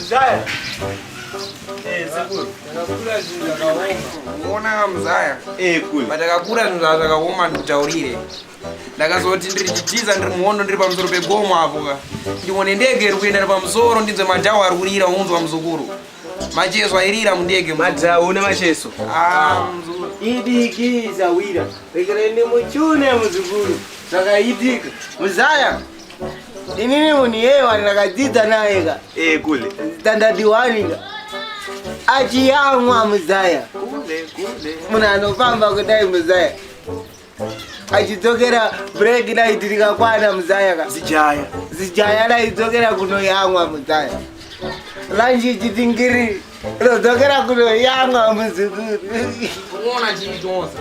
Zaya. Eh, sekuru. Ndakakura zvinhu zvakaoma. Unoona kamuzaya. Eh, kule. But akakura zvinhu zvavo zvakaoma ndikutaurire. Ndakazoti ndiri chitiza ndiri muhondo ndiri pamusoro pegomo apo ka. Ndione ndege iri kuenda pamusoro ndinzwe madhawa ari kurira unzwa muzukuru. Macheso airira mundege madzawo une macheso ah, idiki zawira rekereni muchune muzukuru zvakaitika muzaya inini munhu yeye wani rakadzidza naye ka eh, kule standard one ka achiyamwa muzaya munhu anofamba kudai muzaya achidzokera break night rikakwana muzaya ka zijaya zijaya raidzokera kunoyamwa muzaya lanji chitingiri rodzokera kunoyamwa muzukuru unoona chii chose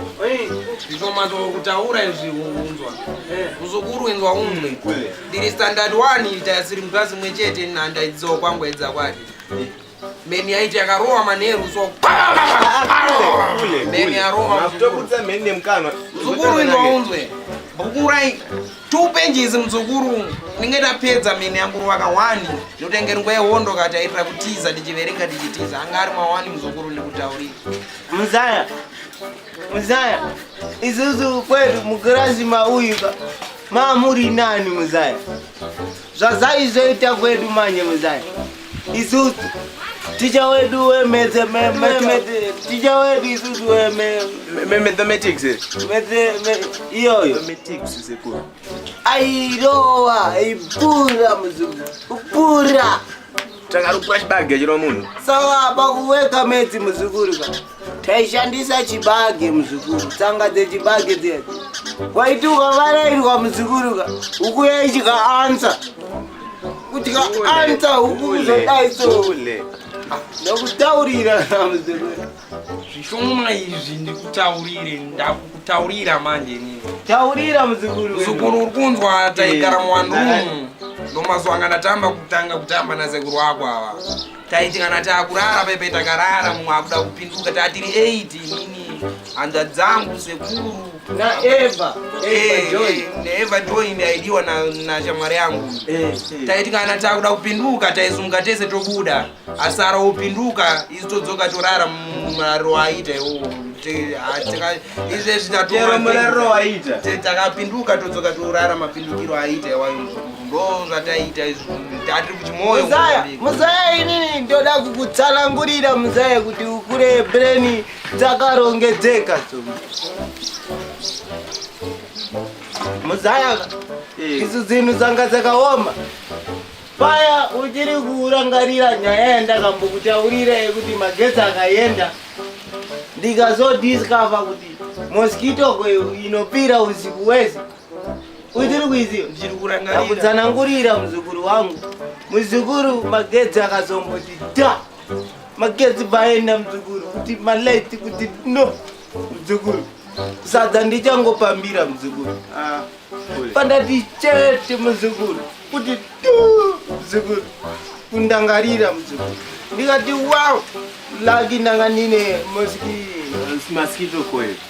zvishomata kutaura izvi unzwa muzukuru inzwa unzwe ndiri standard one ita siri mukasi mwe chete nhandaidziwa kwangu edza kwake Meni yaiti yakarowa manheru so meni yarowa matokurutsa meni nemukanwa mzukuru indounzwe bukurai two pages mzukuru ndinge ndapedza meni yangu ruvaka one ndotenge nguva yehondo kati aitira kutiza ndichiverenga ndichitiza anga ari mawani mzukuru ndikutaurira muzaya muzaya isusu kwedu mukirasi mauyu ka mamuri nani muzaya zvazaizoita kwedu manye muzaya Isusu ticha wedu wemedze ticha wedu isusu wemathematics iyoyo airowa ibura muzungu ubura takarukura chibage chino munhu saka pakuweka medzi muzukuru ka taishandisa chibage muzukuru tsanga dzechibage dziya waiti ukavarairwa muzukuruka ukuya ichika ansa kutika ansa huku kuzodai so ndokutaurira muzukuru zvishoma izvi ndikutaurire ndakukutaurira manje nini taurira muzukuru muzukuru uri kunzwa taigara muwandumu ndomazuva anga ndatamba kutanga kutamba nasekuru wako ava taiti kana takurara pepe takarara mumwe akuda kupinduka tatiri 8 nini hanzva dzangu sekuru naeva naeva join yaidiwa nashamwari yangu eh, eh. taiti kana takuda kupinduka taizunga tese tobuda asara opinduka isu todzoka torara muraro aita iwowo izvezvi tatoatakapinduka todzoka torara mapindukiro aita iwayo ndozvataiita izvo tati kuchimoyo muzaya inini ndoda kukutsanangurira muzaya kuti ukure breni dzakarongedzeka so muzaya eh. isu dzinhu dzanga dzakaoma paya uchiri kurangarira nyaya yandakambokutaurira yekuti magetsi akaenda ndikazodiscover kuti mosquito kweyo inopira usiku wese Kuitiri kuiziyo ndichiri kurangarira. Kutsanangurira muzukuru wangu. Muzukuru magedzi akazomboti da. Magedzi baenda muzukuru kuti malaiti kuti no muzukuru. Sadza ndichangopambira muzukuru. Ah. Pandati chete muzukuru kuti tu muzukuru. Kundangarira muzukuru. Ndikati wow. Lagi ndanga nine mosquito. Mosquito coil.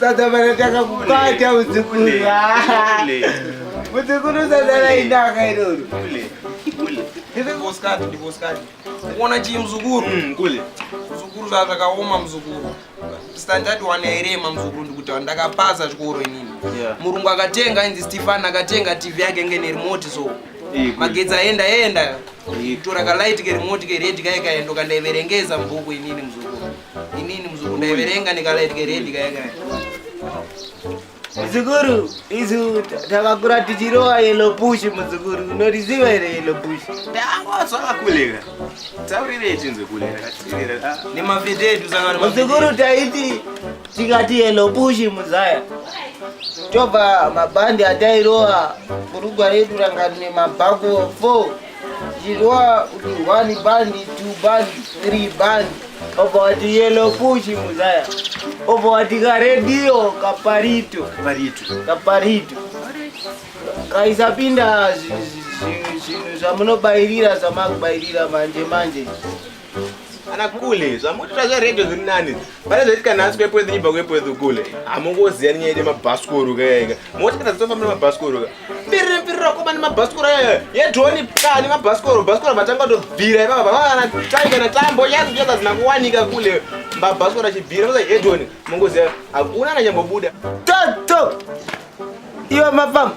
Sadabara takakubata muzukuru. Muzukuru sadara inaka iroro. Ndikusikati ndikusikati. Kuona chii muzukuru? Mm, kule. Muzukuru zvazvakaoma muzukuru. Standard one yairema muzukuru ndikuti ndakapasa chikoro inini. Yeah. Murungu akatenga inzi Stefan akatenga TV yake nge remote so. magetsi aenda enda tora kalight kerimoti keredi kaye kaye ndokandaiverengeza mubhuku inini muzukuru inini muzukuru ndaiverenga nekalight keredi kaye kaye muzukuru isu takakura tichirowa yellow bush muzukuru unoriziva here yellow bush ndangozvakakuleka taurirei tinzwe kulera nemafete edu sangano muzukuru taiti Tikati hello bush muzaya. Tova mabhandi atairova kurugwa redu ranga rine mabhako 4 zvirova kuti one bandi two bandi three bandi obva wati yellow push muzaya obva wati karedhiyo kaparito kaparito kaisapinda zvinhu zvamunobairira zvamakubairira manje manje ana kule zvamutoita zveredho zviri nani pane zvaitika nhasi kwepwedhu nyibva kwepwedhu kule hamungoziya ninyaya ine mabhasikoro kayaika moti kana dzitofamba nemabhasikoro ka mbirire mbirira koma nemabhasikoro aya yedhoni ka nemabhasikoro bhasikoro vatanga tobvira ipapa vavana tai kana tambo yazochaka zina kuwanika kule mabhasikoro achibvira osa yedhoni mungoziya hakuna ananyambobuda toto iwe mafamba